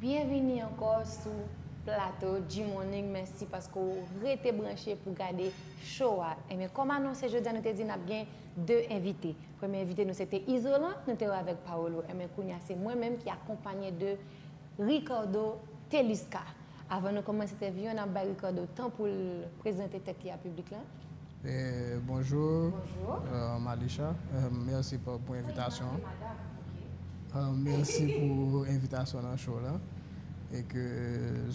Byenvini ankò sou Plato G-Morning mèsi paske w rete branche pou gade show a enben kòm anonse jodi a nou te di nap gen 2 envite premye envite nou se te Izolan nou te wè avèk Paolo enben kounya se mwen menm ki akonpanye de Ricardo Telusca. Avan nou kòmanse entèvyou an, n ap bay Ricardo tan pou l prezante tèt li a piblik la. Bonjour Malicha merci pou envitasyon an merci pou envitasyon nan show la e ke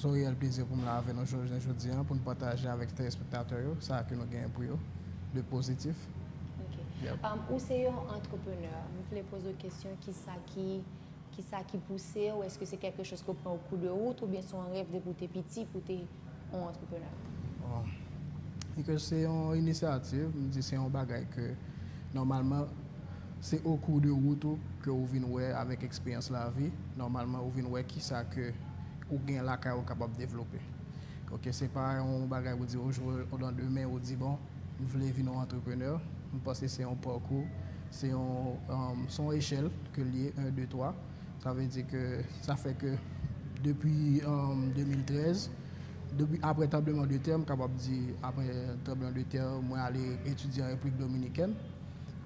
son reyèl plezi pou m la avè nou jounen jodi an pou n pataje avèk telespektatè yo sa ke nou genyen pou yo de pozitif. Ou se yon entreprenè m vle poze w kesyon kisa ki Kisa ki pouse w, eske se kèlke chòz ki ou pran o kou de rout oubyen se yon rèv depi ou te piti pou w te yon antreprenè? Bon, vi ke se yon inisyativ, m di se yon bagay ke nòmalman se o kou de rout ou ke ou vin wè avèk eksperyans lavi, nòmalman ou vin wè kisa ke ou gen lakay ou kapab devlope. Ok, se pa yon bagay ou di o jou o landemen ou di bon, m vle vin yon entrepreneur, m panse se yon parkou, se yon se yon echèl ke li ye 1 2 3, sa vle di ke sa fè ke depi 2013 depi aprè tranbleman de tè m kapab di aprè tranbleman de tè mwen ale etidye an Repiblik Dominikèn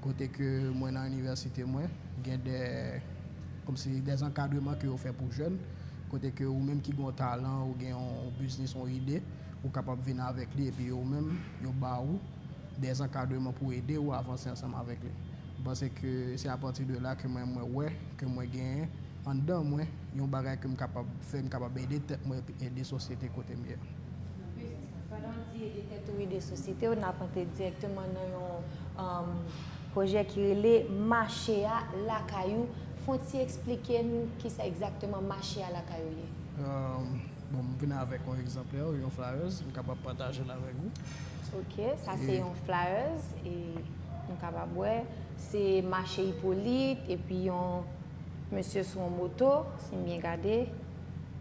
kote ke mwen nan inivèsite mwen gen dè kòmsi dè ankadreman ke yo fè pou jèn kote ke ou menm ki gen yon talan ou gen yon biznis yon ide Ou kapab vin avèk li epi yo menm, yo ba ou dè zankadreman pou ede ou avanse ansanm avèk li. M panse ke se apati de la ke mwen mwen wè ke mwen genyen anndan mwen yon bagay ke m kapab fè, m kapab ede tèt mwen epi ede sosyete kote m ye a. Justement, pandan w di ede tèt ou, ede sosyete w, n ap antre dirèkteman nan yon pwojè ki rele Mache a lakay ou. Fon ti eksplike n kisa egzakteman Mache a lakay ou ye? Bon, m vin avèk yon egzanplè, yon flyers, m kapab pataje l avèk ou. Ok, sa se yon flyers e nou kapab wè, se mache Ipolit epi yon mesye sou yon moto, si m byen gade.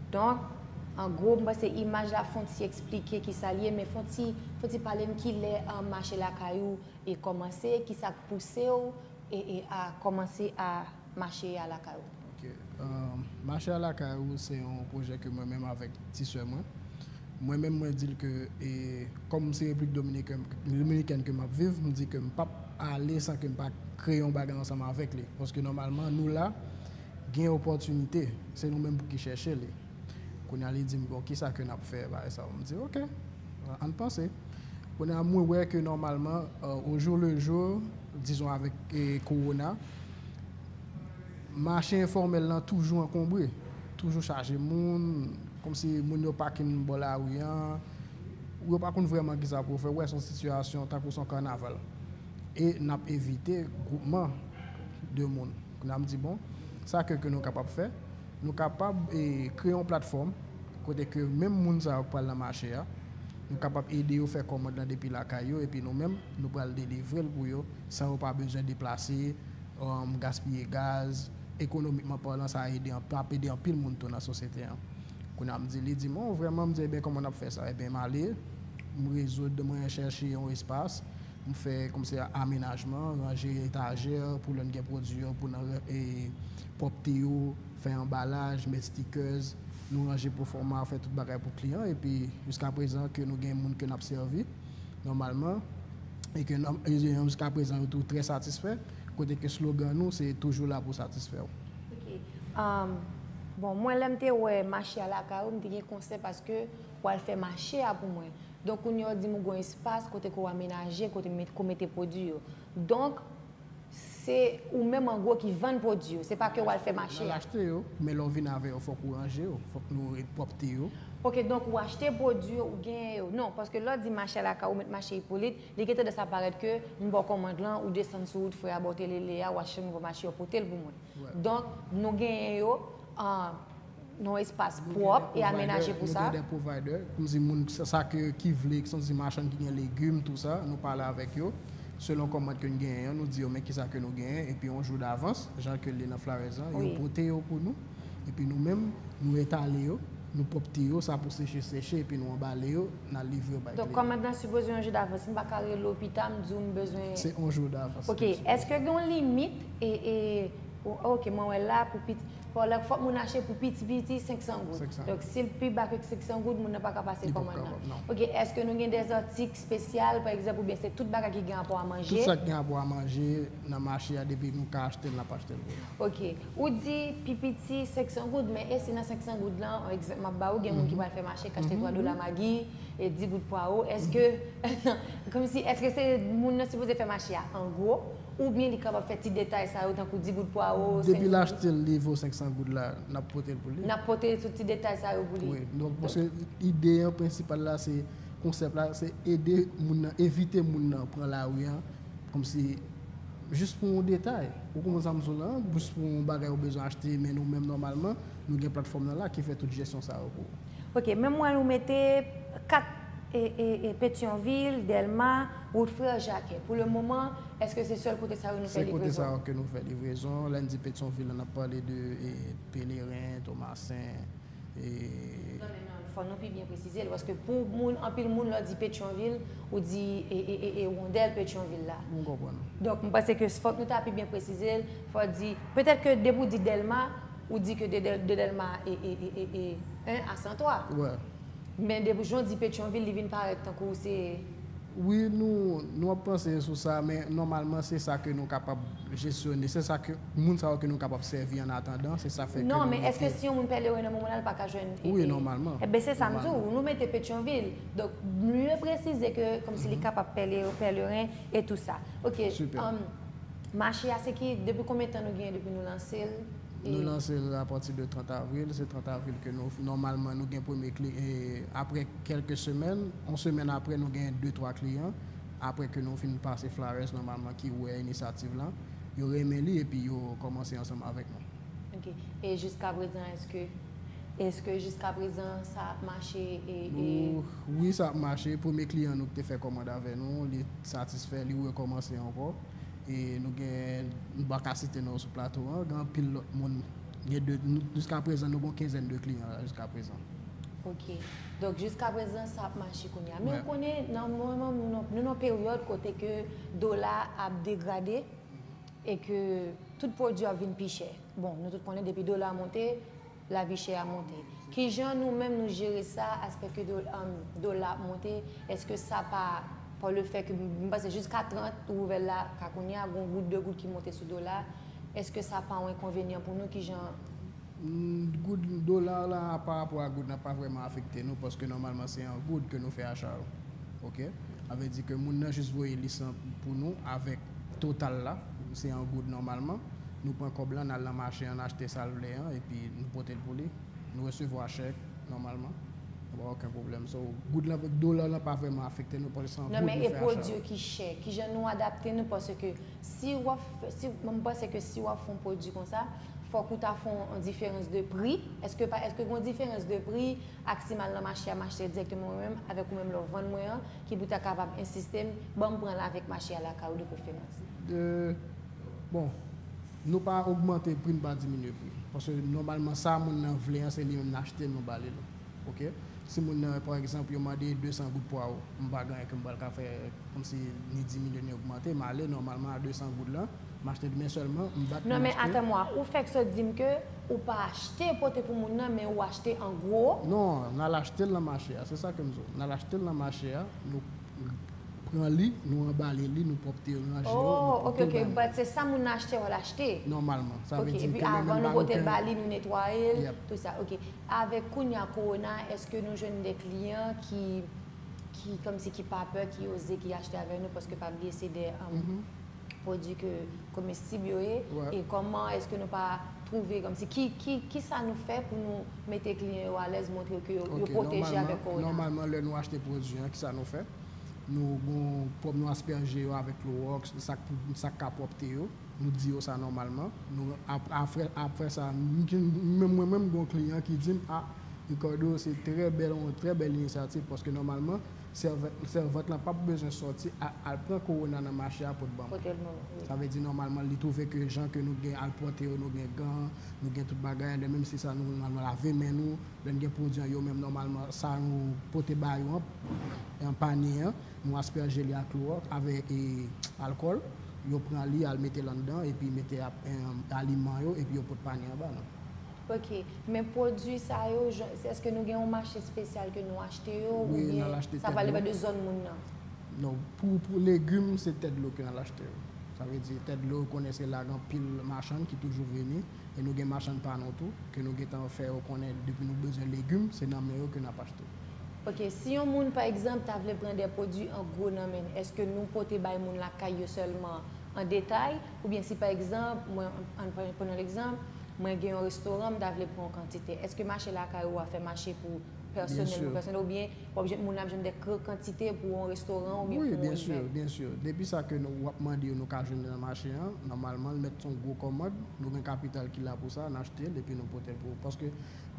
Donk, an gwo, m panse imaj la fon ti eksplike ki sa l ye, men fon ti, fon ti pale m ki lè mache lakay ou e kòmanse, ki sa k pouse ou e a kòmanse a Mache a lakay ou. Ok. Mache a lakay ou se yon pwojè ke mwen menm avèk ti sè mwen, mwen menm mwen di l ke e kòm se Repiblik Dominikèn ke m ap viv, m di ke m pap ale san ke m pa kreye yon bagay ansanm avèk li. Paske nòmalman nou la gen opòtinite, se nou menm pou ki chèche li. Kounye a li di m, bon, ki sa ke n ap fè bagay sa yo? M di, ok, ann panse. Kounye a mwen wè ke nòmalman, o jou le jou, dizon avèk kowona, mache enfòmèl lan toujou ankonbre, toujou chaje moun, kòm si moun yo pakin bò lari an, ou yo pa konn vrèman ki sa pou yo fè, ou wè se yon sitiyasyon tankou se yon kanaval. E n ap evite gwoupman de moun. Kounye a m di, bon, sa ke ke nou kapab fè? Nou kapab kreye yon platfòm kote ke menm moun sa yo k pral nan mache a, nou kapab ede yo fè kòmand lan depi lakay yo epi nou menm nou pral delivre l pou yo san yo pa bezwen deplase, gaspiye gaz. Ekonomikman palan sa ede anpil, ap ede anpil moun tou nan sosyete an. Kounye a m di, li di m, oh vrèman? M di, Eben kòman n ap fè sa? Eben m ale, m rezoud, mwen chèche yon espas, m fè kòmsi amenajman, ranje etajè pou lè n gen pwodui yo pou nan Pwòpte yo, fè anbalaj, mèt stikèz, nou ranje pwofòma, fè tout bagay pou kliyan an epi jiska prezan ke nou gen moun ke n ap sèvi nòmalman e ke jiska prezan yo tou trè satisfè kote ke slogan nou se toujou la pou satisfè w. Ok. Bon, mwen lè m te wè mache a lakay ou, m te gen konsè paske w al fè mache a pou mwen. Donk kounye a ou di m ou gen yon espas kote ke w amenaje, kote m met, ke w mete pwodui yo. Donk, se ou menm an gwo ki vann pwodui yo, se pa ke w al fè mache a. Nan achte yo, men lè w vin avè yo fòk ou ranje yo, fòk nou re pwòpte yo. Ok, donk ou achte pwodui yo, ou genyen yo. Non, paske lè w di mache a lakay ou, met mache Ipolit, li gen tandans a parèt ke m ba w kòmand lan, ou desann sou wout frè a ba w telele a, ou achte nouvo mache yo, pote l pou mwen. Donk, nou genyen yo. yon espas pwòp e amenaje pou sa. Nou gen de provider, nou di moun sa ke ki vle, ki son ti machann ki gen legim tou sa, nou pale avèk yo, selon kòmand ke nou genyen an, nou di yo men kisa ke nou genyen, epi yon jou davans, jan ke li nan flyers lan, yo pote yo pou nou, epi nou menm, nou etale yo, nou pwòpte yo, sa pou seche seche, epi nou anbale yo, nan livre yo bay kliyan. Donk kòmand lan sipoze yon jou davans, m pa ka rele w pi ta, m di w m bezwen. Se yon jou davans. Ok, eske gen yon limit, e, e, ok mwen wè la pou pi. Fò lè fòk moun achte pou piti piti 500 goud. 500 goud. Donk si l pi ba ke 500 goud moun nan pa ka pase kòmand nan. Li pap ka, non. Ok, èske nou gen dè zatik spesyal pa egzanp oubyen se tout bagay ki gen rapò a manje? Tout sa ki gen rapò a manje nan mache a depi nou ka achte l n ap achte l pou nou. Ok, ou di pi piti 500 goud men e si nan 500 goud lan yon egzanp m ap ba ou gen moun ki pral fè mache k achte 3 dola magi e 10 goud pwaro èske kòmsi èske se moun nan sipoze fè mache a an gwo? Oubyen li kapab fè ti detay sa yo tankou 10 goud pwawo, 5 goud. Depi l achte l li vo 500 goud la, n ap pote l pou li. N ap pote tout ti detay sa yo pou li. Wi, donk paske ide an prensipal la se, konsèp la se ede moun nan, evite moun nan pran lari an kòmsi jis pou yon detay. Ou konprann sa m di w la? Jis pou yon bagay ou bezwen achte men nou menm nòmalman nou gen platfòm nan la ki fè tout jesyon sa yo pou ou. Ok men m wè ou mete 4 Petyonvil, Dèlma, wout Frè Jakè. Pou le moman, èske se sèl kote sa yo nou fè livrezon? Se kote sa yo ke nou fè livrezon. Lè n di Petyonvil la, n ap pale de Peleren, Tomasen, e. Non men non, fò nou pi byen presize l. Paske pou moun, anpil moun, lè w di Petyonvil, ou di Wondèl Petyonvil la. M konprann ou. Donk m panse ke fòk nou ta pi byen presize l. Fò w di, petèt ke depi w di Dèlma. Ou di ke de delma e 1 a 103. Wè. Men depi jan w di petyonvil li vin parèt tankou se. Wi nou nou ap panse sou sa men nòmalman se sa ke nou kapab jesyone se sa ke moun sa yo ke nou kapab sèvi an atandan se sa fè ke nou mete. Non men eske si yon moun pèleren nan momonal l pa ka jwenn e. Wi nòmalman. Enben se sa m di w nou mete petyonvil donk m vle presize ke kòmsi li kapab pèleren e tou sa ok. Sipè. Mache a se ki, depi konbyen tan nou genyen depi nou lanse l? Nou lanse l a pati de 30 avril, se 30 avril ke nou, nòmalman nou gen premye kli, e apre kèlke semèn, yon semèn apre nou gen de twa kliyan, apre ke nou fin pase flares nòmalman ki wè inisativ lan, yo renmen li epi yo kòmanse ansanm avèk nou. Ok, e jiskaprezan èske. Eske jiska prezan sa ap mache e. Wi sa ap mache, premye kliyan nou ki te fè kòmand avè nou li satisfè li rekòmanse ankò e nou gen m pa ka site non sou plato an gen anpil lòt moun gen de jiska prezan nou gen yon kenzèn de kliyan la jiska prezan. Ok donk jiska prezan sa ap mache kounye a men ou konnen nan moman nou nan peryòd kote ke dola ap degrade. e ke tout pwodui yo ap vin pi chè, bon nou tout konnen depi dola monte lavi chè a monte, kijan nou menm nou jere sa aspè ke dola ap monte, eske sa pa pa le fè ke m panse jiska 30 rouvèl la ka kounye a gon goud de goud ki monte sou dola, eske sa pa yon enkonvenyan pou nou kijan Goud, dolar la pa rapò a goud la pa vrèman afekte nou paske nòmalman se an goud ke nou fè acha yo ok sa vle di ke moun nan jis voye lis lan pou nou avèk total la se an goud nòmalman nou pran kòb lan nal nan mache an achte sal vle an epi nou potel pou li nou resevwa chèk nòmalman nou pa oken pwoblèm so goud lan dolar lan pa vrèman afekte nou paske se an goud nou fè acha yo. Nan men e pwodui yo ki chè kijan nou adapte nou paske si wap fè si mpanse ke si wap fon pwodui konsa. Fòk ou ta fon on diferans de pri. Eske pa eske gon diferans de pri ak si mal nan mache a mache direkteman mwen menm avèk ou menm lè w vann mwen an ki pou ta kapab ensiste m banm pran l avèk mache a lakay ou de preferans. 2, Bon nou pa ogmante pri n pa diminye pri paske nòmalman sa moun nan vle an se li menm n achte nou ba li l ok si moun nan pa egzanp yo mande 200 goud pwawo m pa gen anyen ke m pral ka fè kòmsi ni diminye ni ogmante m ale nòmalman a 200 goud lan. M achte demen sèlman, m bat pou m achte. Non men attends moi, ou fèk sot di m ke ou pa achte pote pou moun nan men ou achte an gwo? Non, n al achte l nan mache a, se sa ke m di w. N al achte l nan mache a, nou pran li, nou anbale li, nou pwòpte yo, nou ranje yo, nou pote l ba moun. Oh, ok, ok, but se sa moun nan achte w al achte? Nòmalman, sa vle di m ke mwen menm ba nou ke. Ok, epi avan nou pote l ba li, nou netwaye l, tout sa, ok. Avèk kounye a kowona, èske nou jwenn de kliyan ki, ki kòmsi ki pa pè, ki oze, ki achte avè nou, paske pa bliye se de. pwodwi ke komestib yo ye e kòman eske nou pa twouve kòmsi ki sa nou fè pou nou mete kliyan yo alèz montre yo ke yo pwoteje avèk kowona. Nòmalman lè nou achte pwodwi an ki sa nou fè nou gon pwòp nou aspèje yo avèk klowòks sa k ka pwòpte yo nou di yo sa nòmalman nou apre sa mwen menm mwen gon kliyan ki di m a Ricardo se trè bèl yon trè bèl inisyativ paske nòmalman Sèvant lan pap bezwen sòti al pran korona nan mache a pou t banm. Sa vle di nòmalman li twouve ke jan ke nou gen al pwòte yo, nou gen gan, nou gen tout bagay an, lè menm si sa nou nòmalman lave men nou, lè n gen pwodwi an yo menm nòmalman sa nou pote ba yo an panye an, nou aspèje li ak lò avè e alkòl, yo pran li al mete l anndan epi mete aliman yo epi yo pot panye an ba nou. Ok, men pwodwi sa yo, eske nou gen yon mache spesyal ke nou achte yo ou byen sa pral depan de zòn moun nan? Non, pou legum se tèt dlo ke nal achte yo. Sa vle di tèt dlo ou konnen se la gen anpil machann ki toujou vini e nou gen machann pa nou tou ke nou gentan fè yo konnen depi nou bezwen legum se nan men yo ke nap achte. Ok, si yon moun pa egzanp ta vle pran de pwodwi an gwo nan men, eske nou pote bay moun lakay yo sèlman an detay Oubyen si pa egzanp, mwen, ann pran, pran yon egzanp, mwen gen yon restoran m ta vle pran yon kantite, èske mache lakay ou a fè mache pou pèsonèl Byen pou sur. pèsonèl oubyen wap jwenn moun ap jwenn dè kr kantite pou yon restoran oubyen Wi pou yon byen sur, evènm? byen sur. Depi sa ke nou, wap mande yo nou ka jwenn li nan mache an, nòmalman l mèt son gwo kòmand, nou gen kapital ki la pou sa, n achte l epi nou pote l pou ou. Paske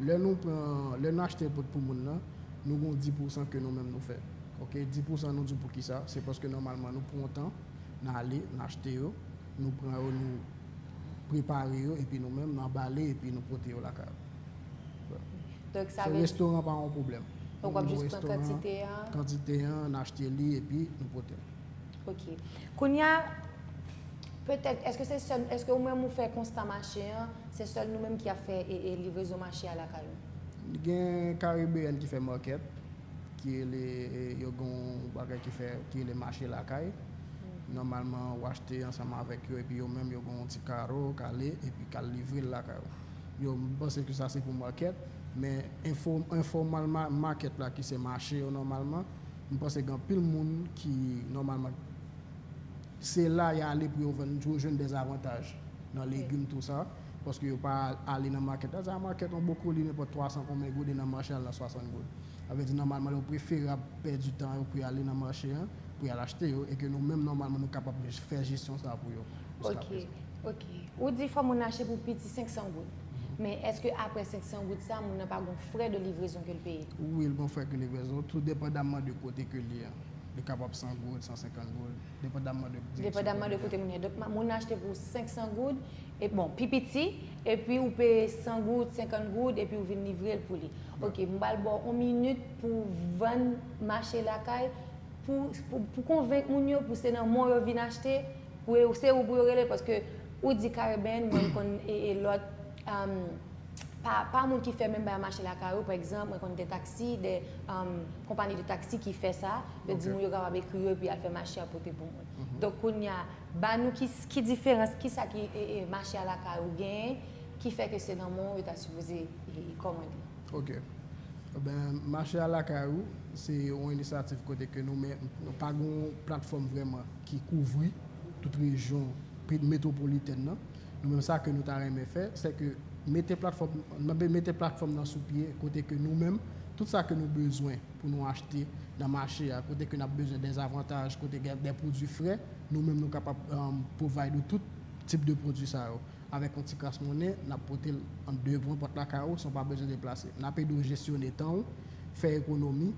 lè nou pran, lè nou achte l pot pou moun nan, nou gen yon di pousan ke nou menm nou fè. Ok, di pousan nou di w poukisa, se paske nòmalman nou pran yon tan, N ale, n achte yo, nou pran yo, nou prepare yo epi nou menm n anbale epi nou pote yo lakay ou. So restoran pa yon pwoblèm. Pou nou jis pran kantite a. Kantite a, n achte li epi nou pote l. Ok. Kounya, petèt, èske se sèl, èske ou menm ou fè konsta mache an, se sèl nou menm ki ap fè livrezon mache a lakay ou? Gen Karibeyèn ki fè market. ki rele yo gen yon bagay ki fè ki rele mache lakay nòmalman ou achte ansanm avèk yo epi yo menm yo gen yon ti karo ou kale epi kal livre l lakay ou yo m panse ke sa se pou market men enfo informal ma market la ki se mache yo nòmalman m panse gen anpil moun ki nòmalman se la y ale pou yo vann pou yo jwenn dèzavantaj nan legim tou sa. paske yo pa ale nan makèt la, sa makèt yon bokoli nenpòt 300 konbyen goud e nan mache al nan 60 goud. Sa vle di nòmalman yo preferab pèdi tan yo pou y ale nan mache an pou y al achte yo e ke nou menm nòmalman nou kapab fè jesyon sa pou yo jiska prezan. Ok, ok. Ou di fò moun nan achte pou piti 500 goud. Men èske aprè 500 goud sa moun nan pa gon frè de livrezon ke l peye? Wi l gon frè ke livrezon, tou depandamman de kote ke l ye an. Li kapab 100 goud, 150 goud, depandamman de direksyon ke l ye an. Depandamman de kote moun ye. Donk moun nan achte pou 500 goud E bon, pi piti, epi ou peye 100 goud, 50 goud, epi ou vin livre l pou li. Ok, m pral ba w yon minit pou w vann mache lakay, pou pou konvenk moun yo pou se nan men w yo vin achte, pou yo se ou pou yo rele paske ou di Caribbean mwen m konn e e lòt am pa pa moun ki fè menm bagay mache lakay ou pa egzanp mwen konn de taksi de am konpani de taksi ki fè sa, yo di moun yo kapab ekri yo epi y al fè mache y al pote pou moun. Donk kounya Ba nou ki ki diferans ki sa ki e e mache a lakay ou genyen ki fè ke se nan men w yo ta sipoze e e kòmande. Ok. Ben mache a lakay ou se yon inisyativ kote ke nou men nou pa gen yon platfòm vrèman ki kouvri tout rejyon pe metwopolitèn nan. Nou menm sa ke nou ta renmen fè se ke mete platfòm nan be mete platfòm nan sou pye kote ke nou menm tout sa ke nou bezwen pou nou achte nan mache a kote ke n ap bezwen dèzavantaj kote gen dè pwodui fre Nou menm nou kapab provide ou tout tip de pwodwi sa yo. Avèk yon ti kras monnen, n ap pote l an devan pòt lakay ou san w pa bezwen deplase. N ap ede w jesyone tan ou, fè ekonomi,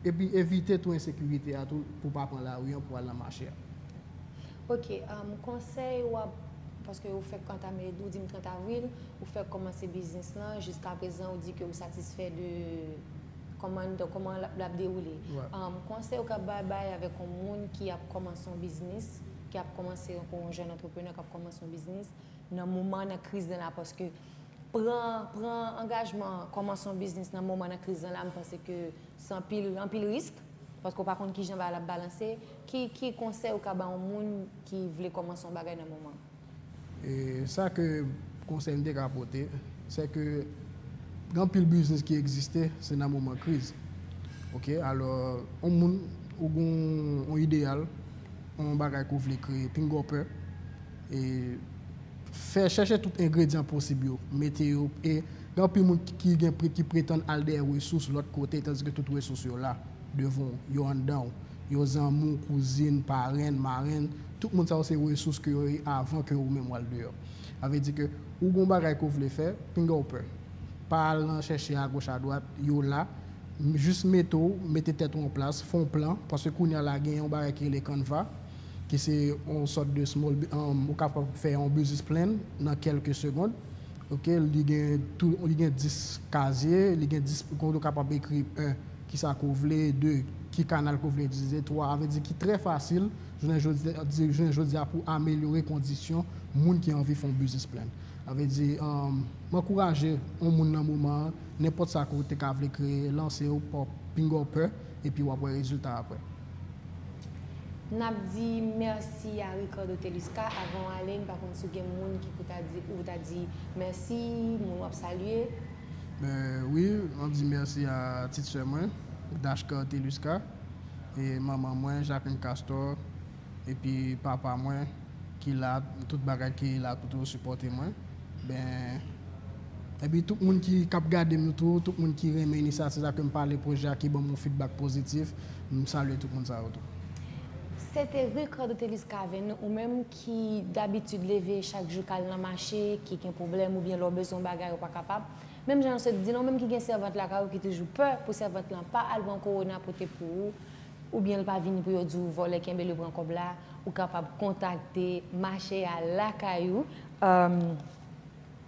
epi evite tou ensekirite a tou pou w pa pran lari an pou w al nan mache a. Ok, konsèy w ap, paske ou fèk antame, ou di m 30 avril, ou fèk kòmanse biznis lan, jiskaprezan ou di ke ou satisfè de Kòman donk kòman l ap dewoule. Konsèy ou ka bay bay avèk yon moun ki ap kòmanse yon biznis, ki ap kòmanse yon pou yon jèn antreprenè k ap kòmanse yon biznis nan moman nan kriz nan la paske pran pran angajman kòmanse yon biznis nan moman nan kriz nan la m panse ke se anpil anpil risk paske ou pa konn kijan bagay la ap balanse ki ki konsèy ou ka ba yon moun ki vle kòmanse yon bagay nan moman. E sa ke konsèy m te ka pote, se ke gen anpil biznis ki egziste se nan moman kriz. Ok, alò yon moun ou gen yon ideyal, yon bagay ke w vle kreye, pingonpè, e fè chèche tout engredyan posib yo, mete yo, e gen anpil moun ki gen ki pretann al dèyè resous lòt kote tandiske tout resous yo la. Devan w, yo anndan w. Yo zanmi, kouzin, parenn, marenn, tout moun sa yo se resous ke yo ye avan ke ou menm w al deyò. Sa vle di ke ou gen yon bagay ke w vle fè, pinga w pè. Pa al nan chèche agoch adwat, yo la. Jis mete w, mete tèt ou an plas, fè yon plan, paske kounye a la gen yon bagay ki rele Canva, ki se yon sòt de small, ou kapab fè yon business plan nan kèlke segond. Ok, li gen tou, li gen 10 kazye, li gen 10, kote ou kapab ekri 1. Ki sa ke w vle? 2, Ki kanal ke w vle itilize? 3, A vle di ki trè fasil jounen jodi a di jounen jodi a pou amelyore kondisyon moun ki anvi fè yon business plan. A vle di, M ankouraje yon moun nan moman an, nenpòt sa ke w te ka vle kreye, lanse w pa w pinga w pè, epi w ap wè rezilta aprè. N ap di mèsi a Ricardo Telusca. Avan w ale, m pa konn si w gen moun ki pou ta di ou ta di mèsi, moun w ap salye. Men wi map di merci a tit sè mwen Dashcar Telusca e manman mwen Jacqueline Castor epi papa mwen ki la tout bagay ki la pou toujou sipòte mwen ben epi tout moun ki kap gadem yo tou tout moun ki renmen inisyativ sa kem pale pwojè a ki banm yon fidbak pozitif m salye tout moun sa yo tou. Sete Ricardo Telusca Avenu ou menm ki. ki dabitid leve chak jou kal nan mache, ki gen pwoblèm oubyen lè w bezwen yon bagay ou pa kapab, menm jan yo sot di la ou menm ki gen sèvant lakay ou ki toujou pè pou sèvant lan pa al pran kowona pote pou ou oubyen l pa vini pou yo di w vòlè kenbe l yo pran kòb la ou kapab kontakte mache a lakay ou.